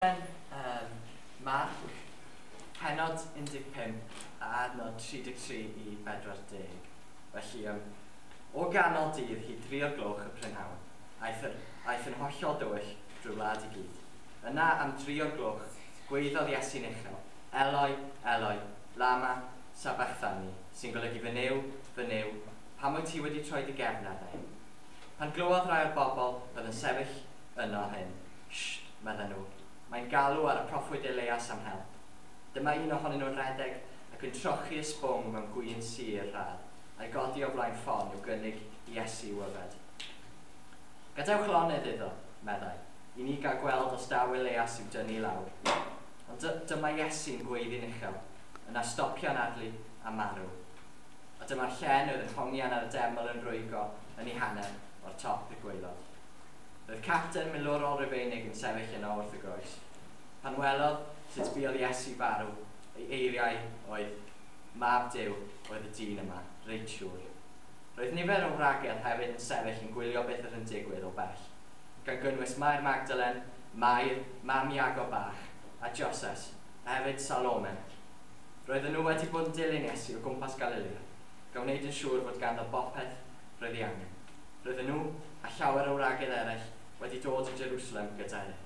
Yn um, Marc, pennod 15 a adnod 33 i 40. Felly, um, o ganol dydd hyd dri o'r gloch y prynhawn, aeth, yr, aeth yn hollol dywyll drwy wlad i gyd. Yna am dri o'r gloch, gweiddodd Iesu'n uchel, Eloi, Eloi, lama sabachthani, sy'n golygu fy Nuw, fy Nuw, pam wyt ti wedi troi dy gefn arna i? Pan glywodd rai o'r bobl oedd yn sefyll yno hyn. Sht! medden nhw. Mae'n galw ar y proffwyd Elias am help. Dyma un ohonyn nhw'n rhedeg ac yn trochi y sbwng mewn gwin sur rhad, a'i godi o flaen ffon i'w gynnig i Iesu i'w yfed. Gadewch lonydd iddo, meddai, i ni gael gweld os daw Elias i'w dynnu i lawr. Ond dy dyma Iesu'n gweiddi'n uchel, yna stopio'n adlu a marw. A dyma'r llen oedd yn hongian ar y deml yn rwygo yn ei hanner o'r top i'r gwaelod. Roedd capten milwrol Rufeinig yn sefyll yno wrth y groes. Pan welodd sut buodd Iesu farw, ei eiriau oedd, Mab Duw oedd y dyn yma, reit siŵr. Roedd nifer o wragedd hefyd yn sefyll yn gwylio beth oedd yn digwydd o bell, gan gynnwys Mair Magdalen, Mair, mam Iago Bach, a Joses, a hefyd Salome. Roedden nhw wedi bod yn dilyn Iesu o gwmpas Galilea, gan wneud yn siŵr fod ganddo bopeth roedd ei angen. Roedden nhw, a llawer o wragedd eraill, wedi dod i Jerusalem gyda ef.